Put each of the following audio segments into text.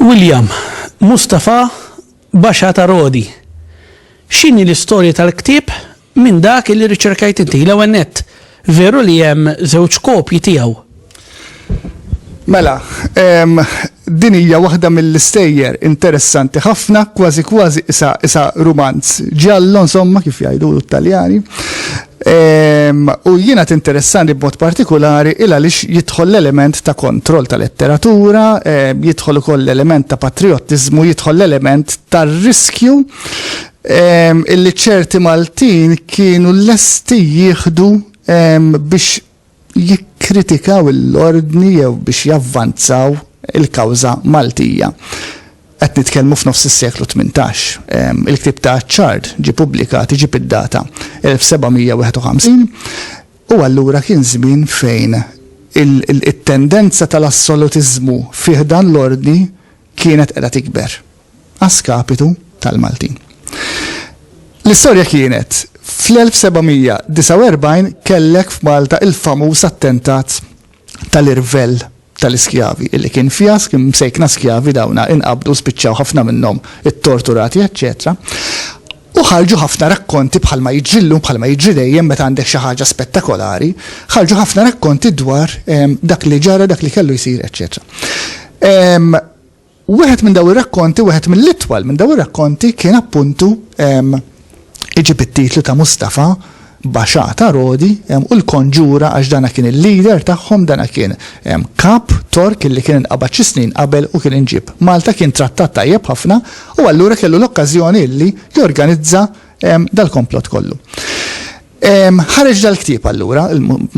William, Mustafa Basha ta' Rodi. X'inhi l-istorja tal-ktieb Minn dak li riċerkajt inti, l-ewwel nett, veru li hemm żewġ kopji tiegħu? Mela, din hija waħda mill-istejjer interessanti ħafna, kważi kważi qisha qisha rumanz ġallo insomma kif jgħidulu t-Taljani. U jiena tinteressani b'mod partikolari il għaliex jidħol l-element ta' kontroll ta' letteratura, jidħol ukoll l-element ta' patriottiżmu, jidħol l-element tar-riskju illi ċerti Maltin kienu lesti jieħdu biex jikkritikaw l-ordni jew biex javvanzaw il-kawża Maltija. Qed nitkellmu f'nofs is-seklu 18. Il-ktieb ta' Achard ġie pubblikat iġib id-data 1751 u allura kien żmien fejn it-tendenza tal-assolutiżmu fi ħdan l-ordni kienet qiegħda tikber. a skapitu tal-Maltin. L-istorja kienet, fl-1749 kellek f'Malta il-famuż attentat tal-irvell tal-iskjavi, illi kien fjask, imsejkna skjavi dawna, inqabdu, spiċċaw ħafna minnhom ittorturati, eċċetera U ħarġu ħafna rakkonti bħalma jiġri llum, bħalma jiġri dejjem meta għandek xi ħaġa spettakolari, ħarġu ħafna rakkonti dwar ehm, dak li ġara, dak li kellu jsir, eċċetera. Ehm, U wieħed minn daw ir-rakkonti, wieħed mill-itwal minn daw ir-rakkonti kien appuntu iġib it-titlu ta' Mustafa Basha ta' Rodi u l-Konġura għax dana kien il-leader tagħhom, dana kien kap Tork illi kien inqabad xi snin qabel u kien inġieb Malta, kien trattat tajjeb ħafna u allura kellu l-okkażjoni illi jorganizza dal-komplott kollu. Ħareġ dal-ktieb allura,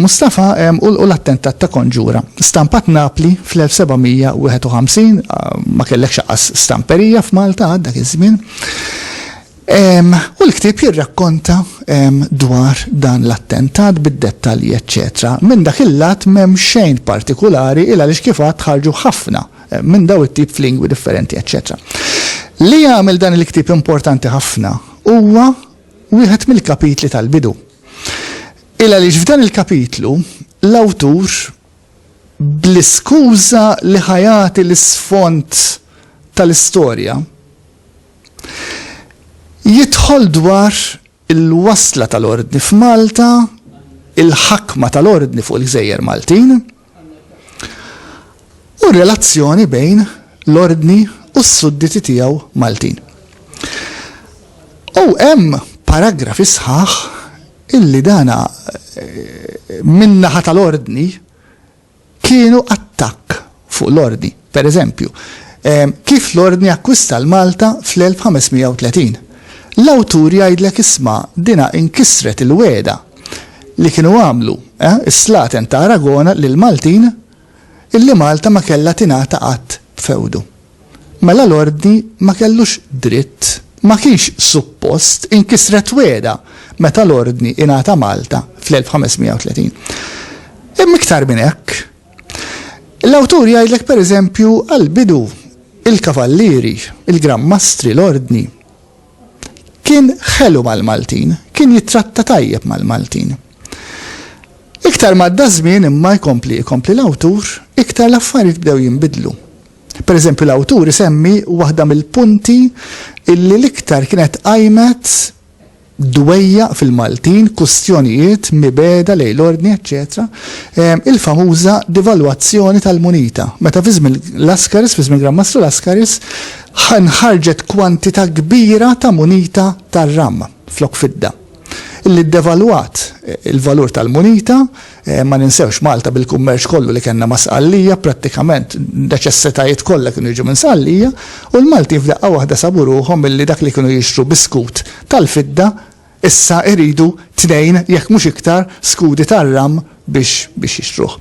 Mustafa u l-Attentat ta' Konġura, stampat Napli fl-1751, ma kellekx aqqas stamperija f'Malta għad dak iż-żmien, u l-ktieb jirrakkonta dwar dan l-attentat bid-dettalji eċċetera. Minn dak il-lat m'hemm xejn partikulari il għaliex kif għadt ħarġu ħafna minn daw it-tip f'lingwi differenti eċċetera. Li jagħmel dan il-ktieb importanti ħafna huwa, wieħed mill-kapitli tal-bidu. Il għaliex f'dan il-kapitlu, l-awtur, bl-iskuża li ħa jagħti l-isfond tal-istorja, jidħol dwar il-wasla tal-Ordni f'Malta, il-ħakma tal-Ordni fuq il-Gżejjer Maltin, u r-relazzjoni bejn l-Ordni u s-sudditi tiegħu Maltin. U hemm paragrafi sħaħ illi dana eh, min-naħa tal-Ordni kienu attakk fuq l-Ordni. Per eżempju, kif l-Ordni akkwista l-Malta fl-1530? L-awtur jgħidlek isma' dinha inkisret il-wegħda li kienu għamlu, eh, is-slaten ta' Aragona lill-Maltin illi Malta ma kellha tingħata qatt b'fewdu. Mela l-Ordni ma kellux dritt, ma kienx suppost inkisret wegħda meta l-Ordni ingħata Malta fl-1530. Imma iktar minn hekk, L-awtur jgħidlek pereżempju għall-bidu, il-kavallieri, il-granmastri, l-ordni. Kien ħelu mal-Maltin, kien jittratta tajjeb mal-Maltin. Iktar m'għadda ż-żmien imma jkompli jkompli l-awtur, iktar l-affarijiet bdew jinbidlu. Pereżempju l-awtur isemmi waħda mill-punti illi l-iktar kienet qajmet dwejjaq fil-Maltin, kustjonijiet, mibegħda lejn l-ordni eċċetera, il-famuża devalwazzjoni tal-munita, meta fi żmien Laskaris, fi żmien Gran Mastru Laskaris, nħarġet kwantità kbira ta' munita tar-ram flok fidda, li ddevalwat il-valur tal-munita, Ma ninsewx Malta bil-kummerċ kollu li kellna ma' Sqallija, prattikament n-neċessitajiet kollha kienu jiġu minn Sqallija, u l-Maltin f'daqqa waħda sabu ruħhom milli dak li kienu jixtru bi skut tal-fidda issa iridu tnejn jekk mhux iktar skudi tar-ramm biex biex jixtruh.